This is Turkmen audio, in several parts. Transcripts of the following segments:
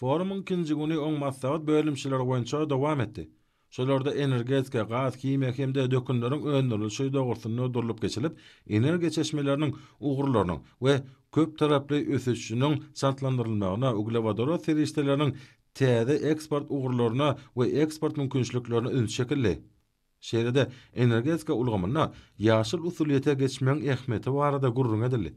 Forumyň ikinji güni oň maslahat bölümçeleri boýunça dowam etdi. Şolarda energetika, gaz, himiýa hem-de dökünleriň öndürilişi dogrusynda durlup geçilip, energiýa çeşmeleriniň ugurlarynyň we köptaraply ösüşiniň çaltlandyrylmagyna, uglewodorod serişdeleriniň täze eksport ugurlaryna we eksport mümkinçiliklerine üns çekildi. Şeýle-de, energetika ulgamynda ýaşyl usulyýete geçmegiň ähmiýeti barada gürrüň edildi.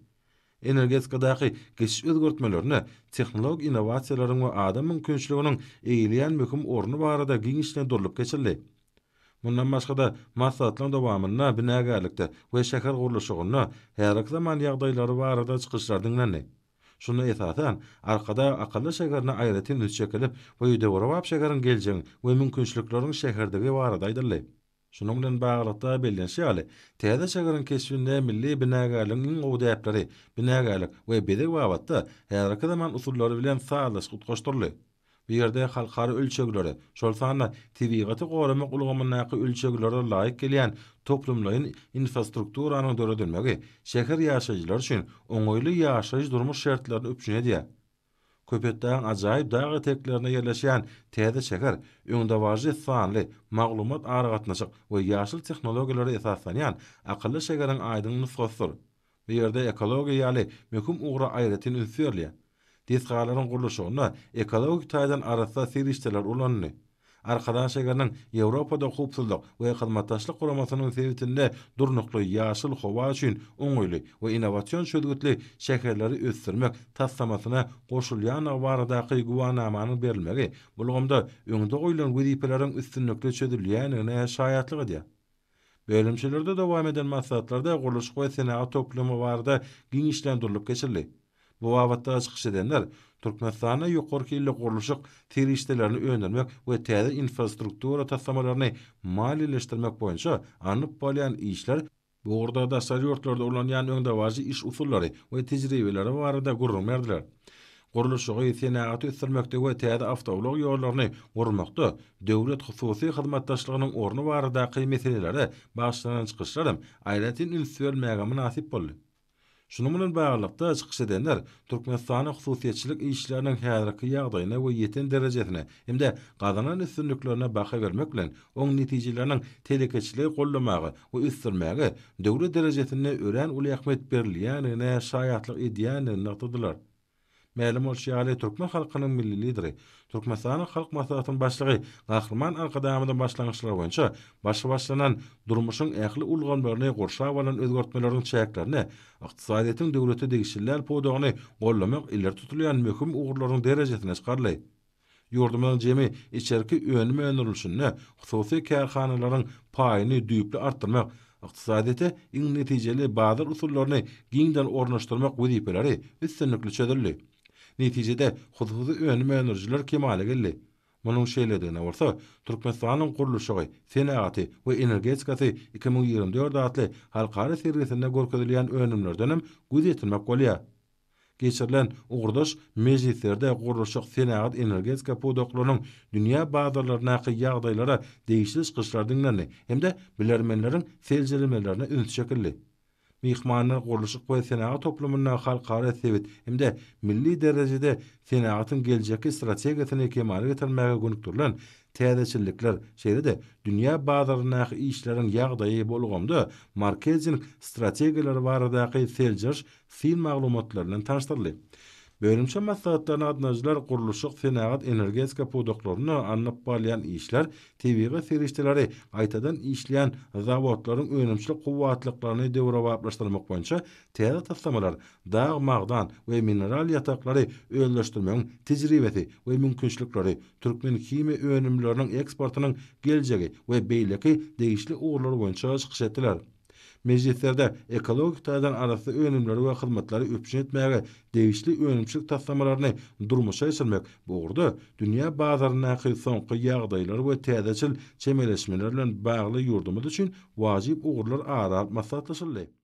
Energetikadaky geçiş özgertmelerinde tehnologik innowasiýalaryň we adam mümkinçiliginiň eýeleýän möhüm orny barada giňişleýin durlup geçildi. Mundan başga-da, maslahatlaryň dowamynda binagärlikde we şäher gurluşygynda häzirki zaman ýagdaýlary barada çykyşlar diňlendi. Şunda esasan, Arkadag akylly şäherine aýratyn üns çekilip, bu döwrebap şäheriň geljegiň we mümkinçilikleriň şäherdigi barada aýdyldy. Şunuň bilen baglylykda bellenişi ýaly, täze şäheriň keşbinde milli binagärligiň iň gowy däpleri, binagärlik we bezeg babatda häzirki zaman usullary bilen sazlaşyp utgaşdyryldy. Bu ýerde halkara ölçeglere, şol sanda tebigaty goramak ulgamyndaky ölçeglere laýyk gelýän toplumlaýyn infrastrukturanyň döredilmegi şäher ýaşaýjylary üçin oňaýly ýaşaýyş-durmuş şertlerini üpjün edýär. Köpetdagyň ajaýyp dag eteklerinde ýerleşýän täze şäher öňdebaryjy sanly, maglumat-aragatnaşyk we ýaşyl tehnologiýalara esaslanýan akylly şäheriň aýdyň nusgasydyr. Bu ýerde ekologiýa ýaly möhüm ugra aýratyn üns berilýär. Desgalaryň gurluşygynda ekologik taýdan arassa serişdeler ulanyldy. Arkadag şägeriniň Ýewropada Howpsuzlyk we Hyzmatdaşlyk Guramasynyň sebitinde durnukly, ýaşyl, howa üçin oňaýly we innowasion çözgütli şäherleri ösdürmek taslamasyna goşulýandygy baradaky güwanamanyň berilmegi bu ulgamda öňde goýlan wezipeleriň üstünlikli çözülýändigine şaýatlyk edýär. Bölümçelerde dowam eden maslahatlarda gurluşyk we senagat toplumy barada giňişleýin durlup geçildi. Bu babatda çykyş edenler Türkmenistanda ýokary hilli gurluşyk serişdelerini öndürmek we täze infrastruktura taslamalaryny maliýeleşdirmek boýunça alnyp barylýan işler, bu ugurda daşary ýurtlarda ulanýan öňdebaryjy iş usullary we tejribeleri barada gürrüň berdiler. Gurluşygy, senagaty ösdürmekde we täze awtoulag ýollaryny gurmakda döwlet-hususy hyzmatdaşlygynyň orny baradaky meselelere bagyşlanan çykyşlar hem aýratyn üns berilmäge mynasyp boldy. Şunuň bilen baglylykda, çykyş edenler Türkmenistanyň hususyýetçilik işleriniň häzirki ýagdaýyna we ýeten derejesine hem-de gazanan üstünliklerine baha bermek bilen, oň netijeleriniň telekeçiligi goldamaga we ösdürmäge döwlet derejesinde örän uly ähmiýet berilýändigine şaýatlyk edýändigini nygtadylar. Mälim bolşy ýaly, türkmen halkynyň Milli Lideri, Türkmenistanyň Halk Maslahatynyň Başlygy Gahryman Arkadagymyzyň başlangyçlary boýunça başy başlanan, durmuşyň ähli ulgamlaryny gurşap alan özgertmeleriň çäklerinde ykdysadyýetiň döwlete degişli däl pudagyny goldamak ileri tutulýan möhüm ugurlaryň derejesine çykaryldy. Ýurdumyzyň jemi içerki önüm öndürilişinde hususy kärhanalaryň paýyny düýpli artdyrmak, ykdysadyýete iň netijeli bazar usullaryny giňden ornaşdyrmak wezipeleri üstünlikli çözüldi. Netijede, hususy önüm öndürijiler kemala geldi. Munuň şeýledigine bolsa Türkmenistanyň gurluşygy, senagaty we energetikasy iki müň ýigrimi dört atly halkara sergisinde görkezilýän önümlerdenem göz ýetirmek bolýar. Geçirilen ugurdaş mejlislerde gurluşyk, senagat, energetika pudaklarynyň dünýä bazarlaryndaky ýagdaýlara degişli çykyşlar diňlendi hem-de bilermenleriň seljelemelerine üns çekildi. Myhmanlar gurluşyk we senagat toplumynda halkara, sebit hem-de milli derejede senagatyň geljekki strategiýasyny kemala getirmäge gönükdirilen täzeçillikler, şeýle-de dünýä bazaryndaky işleriň ýagdaýy, bu ulgamda marketing strategiýalary baradaky seljeriş syn maglumatlary bilen tanyşdyryldy. Bölümçe maslahatlaryna gatnaşyjylar gurluşyk, senagat, energetika pudaklarynda alnyp barylýan işler, tebigy serişdeleri gaýtadan işleýän zawodlaryň önümçilik kuwwatlyklaryny döwrebaplaşdyrmak boýunça täze taslamalar, dag, magdan we mineral ýataklary özleşdirmegiň tejribesi we mümkinçilikleri, türkmenhimiýa önümleriniň eksportynyň geljegi we beýleki degişli ugurlar boýunça çykyş etdiler. Mejlislerde ekologik taýdan arassa önümleri we hyzmatlary üpjün etmäge degişli önümçilik taslamalaryny durmuşa geçirmek bu ugurda dünýä bazaryndaky soňky ýagdaýlar we täzeçil çemeleşmeler bilen bagly ýurdumyz üçin wajyp ugurlar ara alyp maslahatlaşyldy.